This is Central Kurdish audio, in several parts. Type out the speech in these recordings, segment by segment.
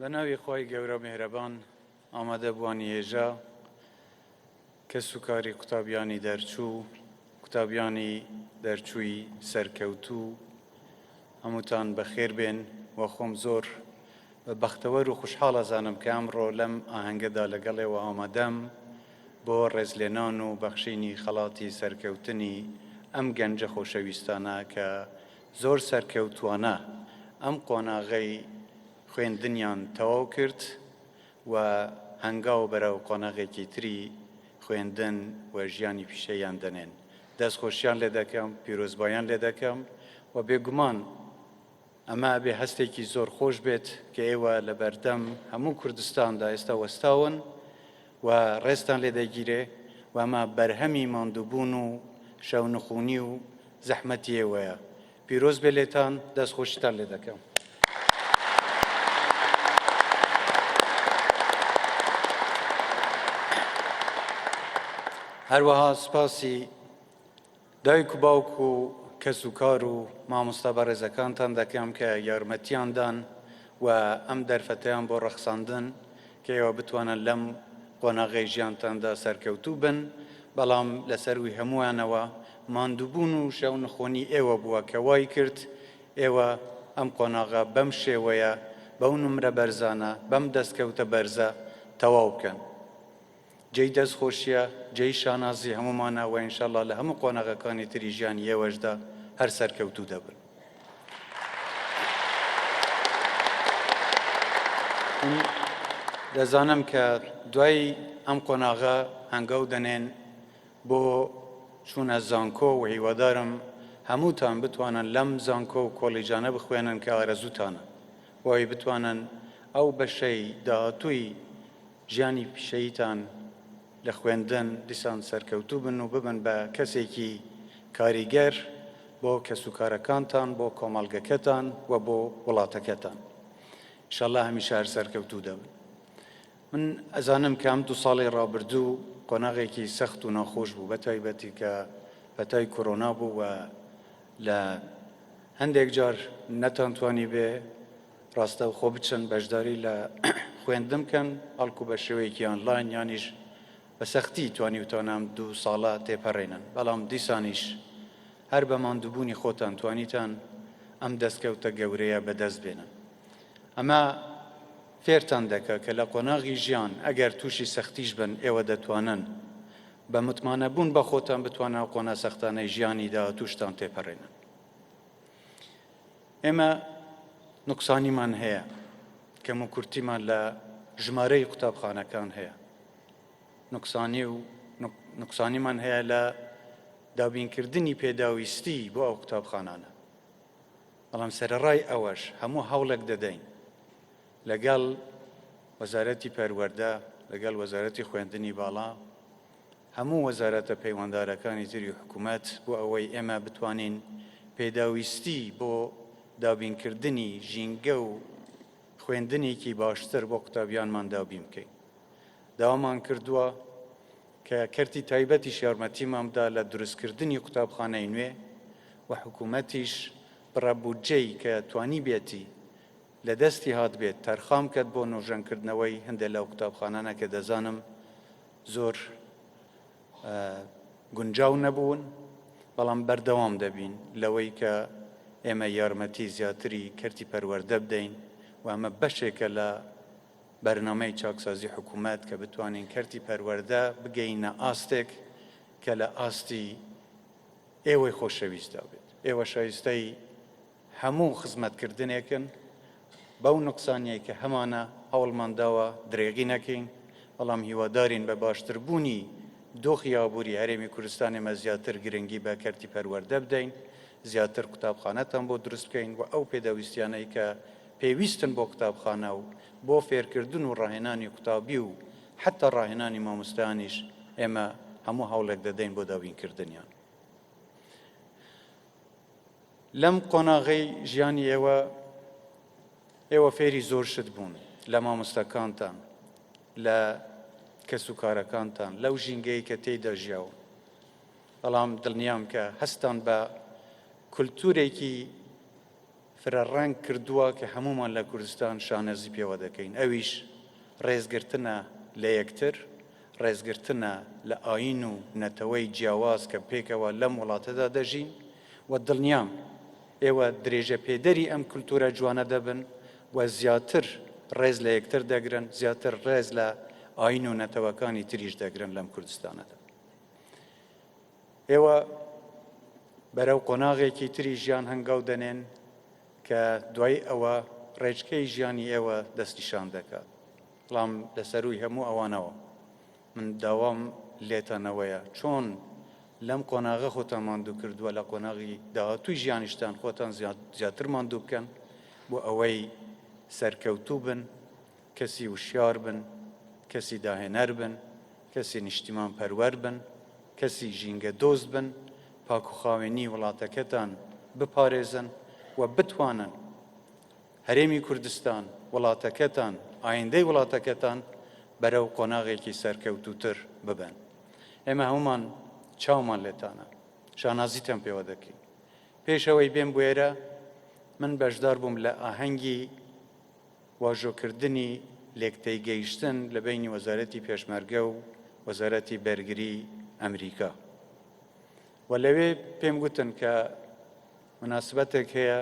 بە ناوی خوای گەورە میهرەبان ئامادەبووانی هێژا کەس و کاری قوتابیانی دەرچوو قوتابیانی دەرچووی سەرکەوتوو هەمووتان بەخێر بێن و خۆم زۆر بەختەوەر و خوشحاڵ ئەزانم کە ئەمڕۆ لەم ئاهەنگەدا لەگەڵێوە ئامادەم بۆ ڕێزلێنان و بەخشینی خەڵاتی سەرکەوتنی ئەم گەنجە خۆشەویستانە کە زۆر سەرکەوتووانە ئەم قۆناغەی خوێندنیان تەواو کرد و هەنگاو بەرەو قۆناغێکی تری خوێندن و ژیانی پیشەییان دەنێن. دەستخۆشیان لێ دەکەم، پیرۆزبایان لێ دەکەم و بێگومان ئەمە ئەبێ هەستێکی زۆر خۆش بێت کە ئێوە لەبەردەم هەموو کوردستاندا ئێستا وەستاون و ڕێزتان لێ دەگیرێ و ئەمە بەرهەمی ماندووبوون و شەو نخوونی و زەحمەتی ئێوەیە. پیرۆز بێ لێتان، دەست خۆشیتان لێ دەکەم. هەروەها سپاسی دایک و باوک و کەس و کار و مامۆستا بەڕێزەکانتان دەکەم کە یارمەتیان دان و ئەم دەرفەتەیان بۆ ڕەخساندن کە ئێوە بتوانن لەم قۆناغەی ژیانتاندا سەرکەوتوو بن، بەڵام لەسەرووی هەمووانەوە ماندووبوون و شەو نخۆنی ئێوە بووە کە وای کرد ئێوە ئەم قۆناغە بەم شێوەیە بەو نمرە بەرزانە بەم دەستکەوتە بەرزە تەواو بکەن. جێی دەست خۆشیە جێی شانازی هەموومانە وە انشاللە لە هەموو قۆناغەکانی تری ژیانی ئێوەشدا هەر سەرکەوتوو دەبن. دەزانم کە دوای ئەم قۆناغە هەنگاو دەنێن بۆ چوونە زانکۆ و هیوادارم هەمووتان بتوانن لەم زانکۆ و کۆلیجانە بخوێنن کە ئارەزوتانە بۆی بتوانن ئەو بەشەی داهاتووی ژیانی پیشەییتان لە خوێندن دیسان سەرکەوتوو بن و ببن بە کەسێکی کاریگەر بۆ کەسوکارەکانتان، بۆ کۆمەڵگەکەتان و بۆ وڵاتەکەتان. ئیشەڵڵا هەمیشە هەر سەرکەوتوو دەبن. من ئەزانم کە ئەم دوو ساڵی ڕابردوو قۆناغێکی سەخت و ناخۆش بوو بە تایبەتی کە پەتای کۆرۆنا بوو و لە هەندێک جار نەتانتوانی بێ ڕاستەوخۆ بچن بەشداری لە خوێندن بکەن، بەڵکو بە شێوەیەکی ئانلاین یانیش بە سەختی توانیوتانام دوو ساڵە تێپەڕێنن، بەڵام دیسانیش هەر بە ماندووبوونی خۆتان توانیتان ئەم دەستکەوتە گەورەیە بەدەست بێنن. ئەمە فێرتان دەکا کە لە قۆناغی ژیان ئەگەر تووشی سەختیش بن ئێوە دەتوانن بە متمانەبوون بە خۆتان بتوانن ئەو قۆناە سەختانەی ژیانی داهاتووشتان تێپەڕێنن. ئێمە نوقسانیمان هەیە، کەموکورتیمان لە ژمارەی قوتابخانەکان هەیە، نوقسانی و نوقسانیمان هەیە لە دابینکردنی پێداویستی بۆ ئەو قوتابخانانە، بەڵام سەرەڕای ئەوەش هەموو هەوڵێک دەدەین لەگەڵ وەزارەتی پەروەردە لەگەڵ وەزارەتی خوێندنی باڵا هەموو وەزارەتە پەیوەندارەکانی تری حکومەت بۆ ئەوەی ئێمە بتوانین پێداویستی بۆ دابینکردنی ژینگە و خوێندنێکی باشتر بۆ قوتابیانمان دابین بکەین داوامان کردووە کە کەرتی تایبەتیش یارمەتیمان بدا لە دروستکردنی قوتابخانەی نوێ و حکوومەتیش بڕە بودجەی کە توانی بێتی لە دەستی هات بێت تەرخان بکەت بۆ نۆژەن کردنەوەی هەندێ لەو قوتابخانانە کە دەزانم زۆر گونجاو نەبوون بەڵام بەردەوام دەبین لەوەی کە ئێمە یارمەتی زیاتری کەرتی پەروەەردە بدەین و ئەمە بەشێکە لە بەرنمەی چاکسازی حکوومەت کە بتوانین کەرتی پەروەەردە بگەینە ئاستێک کە لە ئاستی ئێوەی خۆشەویستدا بێت ئێوە شایستەی هەموو خزمەتکردنێکن بەو نوقسانیەی کە هەمانە هەوڵمان داوە درێغی نەکەین، بەڵام هیوادارین بە باشتربوونی دۆخی ئابووری هەرێمی کوردستان ئێمە زیاتر گرنگی بە کەرتی پەروەردە بدەین، زیاتر قوتابخانەتان بۆ دروست بکەین و ئەو پێداویستیانەی کە پێویستن بۆ قوتابخانە و بۆ فێرکردن و ڕاهێنانی قوتابی و حەتا ڕاهێنانی مامۆستایانیش ئێمە هەموو هەوڵێک دەدەین بۆ دابینکردنیان. لەم قۆناغەی ژیانی ئێوە ئێوە فێری زۆر شت بوون لە مامۆستاکانتان لە کەس و کارەکانتان لەو ژینگەی کە تێیدا ژیاوە بەڵام دڵنیام کە هەستان بە کولتورێکی فرەڕەنگ کردووە کە هەمومان لە کوردستان شانەزی پێوە دەکەین ئەویش ڕێزگرتنە لە یەکتر ڕێزگرتنە لە ئایین و نەتەوەی جیاواز کە پێکەوە لەم وڵاتەدا دەژین و دڵنیام ئێوە درێژەپێدەری ئەم کولتوورە جوانە دەبن و زیاتر ڕێز لە یەکتر دەگرن، زیاتر ڕێز لە ئایین و نەتەوەکانی تریش دەگرن لەم کوردستانەدا. ئێوە بەرەو قۆناغێکی تری ژیان هەنگاو دەنێن کە دوای ئەوە ڕێچکەی ژیانی ئێوە دەستنیشان دەکات. بەڵام لە سەرووی هەموو ئەوانەوە من داوام لێتان ئەوەیە چۆن لەم قۆناغە خۆتان ماندوو کردووە لە قۆناغی داهاتووی ژیانیشتان خۆتان زیاتر ماندوو بکەن بۆ ئەوەی سەرکەوتوو بن کەسی وشیار بن کەسی داهێنەر بن کەسی نیشتیمان پەروەر بن کەسی ژینگە دۆست بن پاکوخاوێنی وڵاتەکەتان بپارێزن و بتوانن هەرێمی کوردستان، وڵاتەکەتان، ئایندەی وڵاتەکەتان بەرەو قۆناغێکی سەرکەوتووتر ببەن. ئێمە هەموومان چاومان لێتانە، شانازیتان پێوە دەکەین. پێش ئەوەی بێم بوێرە، من بەشدار بووم لە ئاهەنگی واژۆکردنی لێکتێگەیشتن لە بەینی وەزارەتی پێشمەرگە و وەزارەتی بەرگری ئەمریکا و لەوێ پێم گوتن کە مناسبەتێک هەیە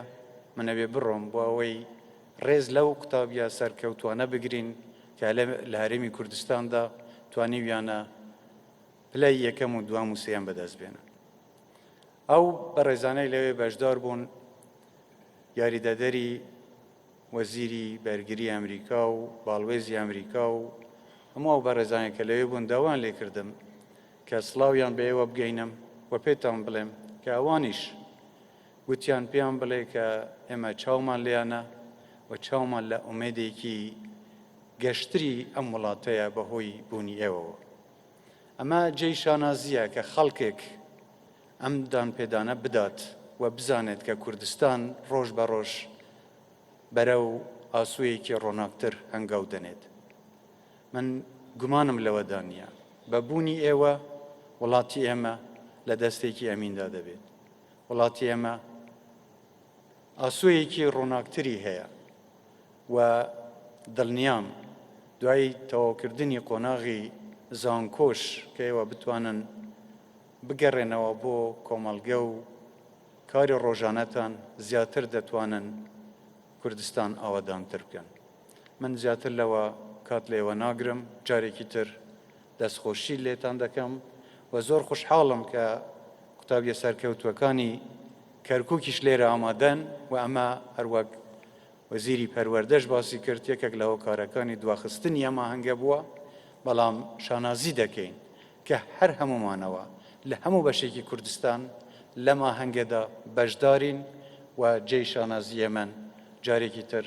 من ئەبێ بڕۆم بۆ ئەوەی ڕێز لەو قوتابیە سەرکەوتوانە بگرین کە لە هەرێمی کوردستاندا توانیویانە پلەی یەکەم و دوام و سێم بەدەست بێنن ئەو بەڕێزانەی لەوێ بەشدار بوون یاریدەدەری وەزیری بەرگری ئەمریکا و باڵوێزی ئەمریکا و هەموو ئەو بەڕێزانێک کە لەوێ بوون داوان لێکردم کە سڵاویان بە ئێوە بگەینم و پێتان بڵێم کە ئەوانیش گوتیان پێیان بڵێ کە ئێمە چاومان لێیانە و چاومان لە ئومێدێکی گەشتری ئەم وڵاتەیە بە هۆی بوونی ئێوەوە. ئەمە جێی شانازییە کە خەڵکێک ئەم دانپێدانە بدات و بزانێت کە کوردستان ڕۆژ بە ڕۆژ بەرەو ئاسۆیەکی ڕۆناکتر هەنگاو دەنێت. من گومانم لەوەدا نییە بە بوونی ئێوە وڵاتی ئێمە لە دەستێکی ئەمیندا دەبێت وڵاتی ئێمە ئاسوویەکی ڕووناکتری هەیە و دڵنیام دوای تەواوکردنی قۆناغی زانکۆش کە ئێوە بتوانن بگەڕێنەوە بۆ کۆمەڵگە و کاری ڕۆژانەتان زیاتر دەتوانن کوردستان ئاوادانتر بکەن من زیاتر لەوە کات لێوە ناگرم، جارێکی تر دەستخۆشی لێتان دەکەم و زۆر خوشحاڵم کە قوتابیە سەرکەوتوەکانی کەرکوکیش لێرە ئامادەن و ئەمە هەروەک وەزیری پەروەردەش باسی کرد یەکێک لە هۆکارەکانی دواخستنی ئەم ئاهەنگە بووە، بەڵام شانازی دەکەین کە هەر هەموومانەوە لە هەموو بەشێکی کوردستان لەم ئاهەنگەدا بەشدارین و جێی شانازییەمن، جارێکی تر.